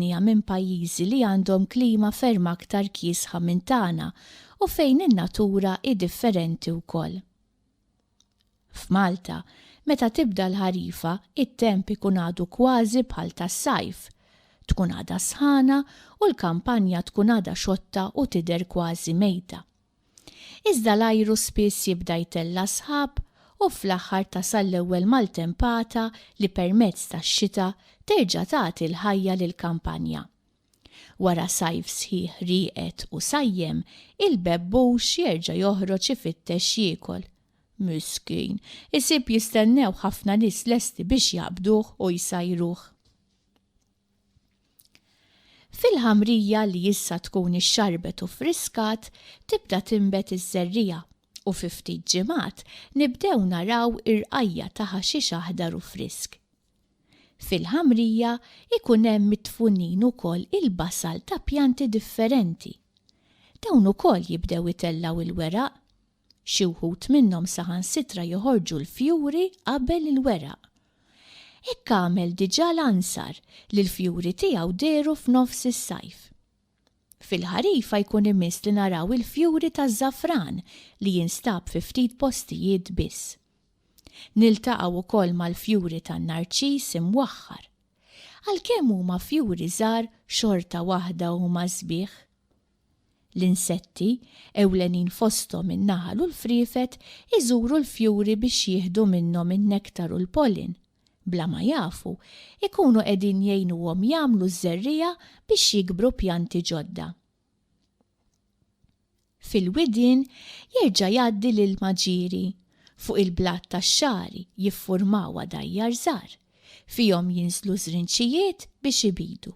dinja minn pajjiżi li għandhom klima ferm aktar kiesħa minn tagħna u fejn in-natura hi differenti wkoll. F'Malta, meta tibda l-ħarifa, it-temp ikun għadu kważi bħal tas-sajf. Tkun għadha sħana u l-kampanja tkun għadha xotta u tidher kważi mejta. Iżda l-ajru spiss jibda jtella' sħab u fl-aħħar tasal l-ewwel maltempata li permezz tax-xita terġa' tagħti l-ħajja lill-kampanja. Wara sajf sħiħ rieqed u sajjem, il-bebbux jerġa' joħroġ ifittex jiekol. Miskin, isib jistennewh ħafna nies lesti biex jaqbduh u jsajruh. Fil-ħamrija li issa tkun ixxarbet u ffriskat, tibda tinbet iż-żerriegħa u fi ftit ġimgħat nibdew naraw irqajja' ta' ħaxix aħdar u frisk. Fil-ħamrija jkun hemm midfunin ukoll il-basal ta' pjanti differenti. Dawn ukoll jibdew itellgħu l-weraq Xi wħud minnhom saħansitra joħorġu l-fjuri qabel il-weraq. Hekk għamel diġà l-ansar li l-fjuri tiegħu dehru f'nofs is-sajf. Fil-ħarifa jkun imiss li naraw il-fjuri taż-żafran li jinstab fi ftit postijiet biss. Niltaqgħu wkoll mal-fjuri tan-narċis imwaħħar. Għalkemm huma fjuri żgħar xorta waħda huma sbieħ. L-insetti, ewlenin fosthom in-naħal u l-friefet, iżuru l-fjuri biex jieħdu minnhom in-nektar u l-pollen. Bla ma jafu, ikunu qegħdin jgħinuhom jagħmlu ż-żerriegħa biex jikbru pjanti ġodda. Fil-widien jerġa' jgħaddi l-ilma ġieri. Fuq il-blat tax-xagħri jiffurmaw għadajjar żgħar. Fihom jinżlu żrinċijiet biex ibidu.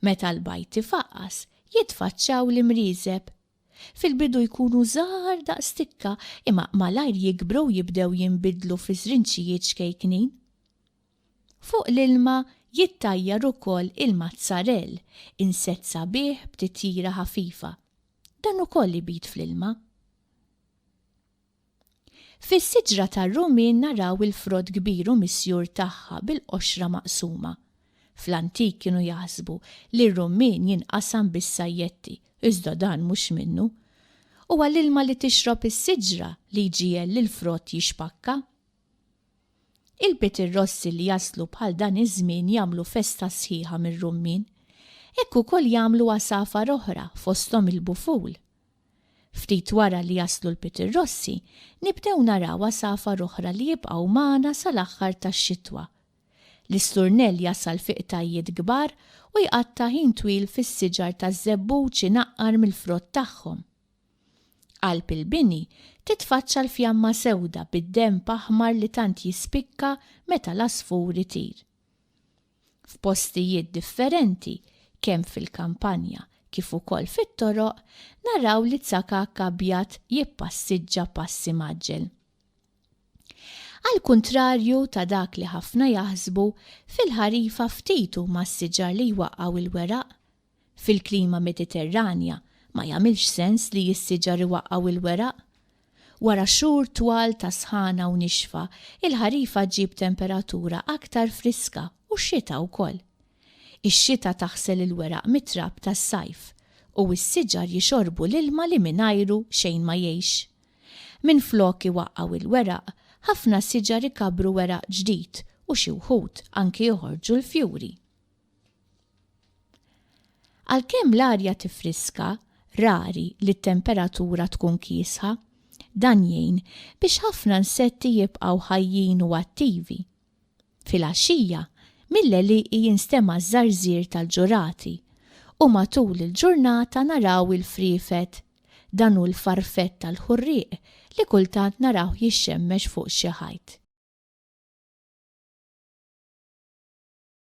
Meta l-bajd ifaqqas, jitfaċċaw l-imrieżeb. Fil-bidu jkunu żgħar daqs tikka imma malajr jikbru u jibdew jinbidlu fi żrinċijiet xkejknin. Fuq l-ilma jittajjar ukoll il-mazzarell, insett sabiħ b'titjira ħafifa. Dan ukoll ibid fl-ilma. Fis-siġra tar-Rumin naraw il-frott kbir u misjur tagħha bil-qoxra maqsuma. Fl-antik kienu jaħsbu li r-rummin jinqasam bis-sajjetti, iżda dan mhux minnu. Huwa l-ilma li tixrob is-siġra li jġiegħel lill-frott jixpakka. Il-Bitirrossi li jaslu bħal dan iż-żmien jagħmlu festa sħiħa mir-rummin. Hekk ukoll jagħmlu għasafar oħra fosthom il-buful. Ftit wara li jaslu l-pitirrossi, nibdew naraw għasafar oħra li jibqgħu magħna sal-aħħar tax-xitwa. L-isturnell jasal fi qtajjiet kbar u jqatta' ħin twil fis-siġar taż-żebbuġ inaqqar mill-frott tagħhom. Qalb il-bini titfaċċa l-fjamma sewda bid-denb aħmar li tant jispikka meta l-għasfur itir. F'postijiet differenti, kemm fil-kampanja kif ukoll fit-toroq, naraw li tsakakk abjad jippassiġġa pass imgħaġġel. Għall-kuntrarju ta' dak li ħafna jaħsbu, fil-ħarifa ftit huma s-siġar li jwaqqgħu l-weraq, Fil-klima Mediterranja ma jagħmilx sens li s-siġar iwaqqgħu l-weraq. Wara xhur twal ta' sħana u nixfa, il-ħarifa ġġib temperatura aktar friska u x-xita wkoll. Ix-xita taħsel il-weraq mit-trab tas-sajf u s-siġar jixorbu l-ilma li mingħajru xejn ma jgħix. Minflok iwaqqgħu l-weraq, ħafna siġar ikabbru weraq ġdid u xi wħud anki joħorġu l-fjuri. Għalkemm l-arja tiffriska, rari li t-temperatura tkun kiesħa. Dan jgħin biex ħafna nsetti jibqgħu ħajjin u attivi. Filgħaxija, mill-għelieqi jinstema' ż-żarżir tal-ġurati u matul il-ġurnata naraw il-friefet, dan hu l-farfett tal-ħurrieq li kultant narawh jixxemmex fuq xi ħajt.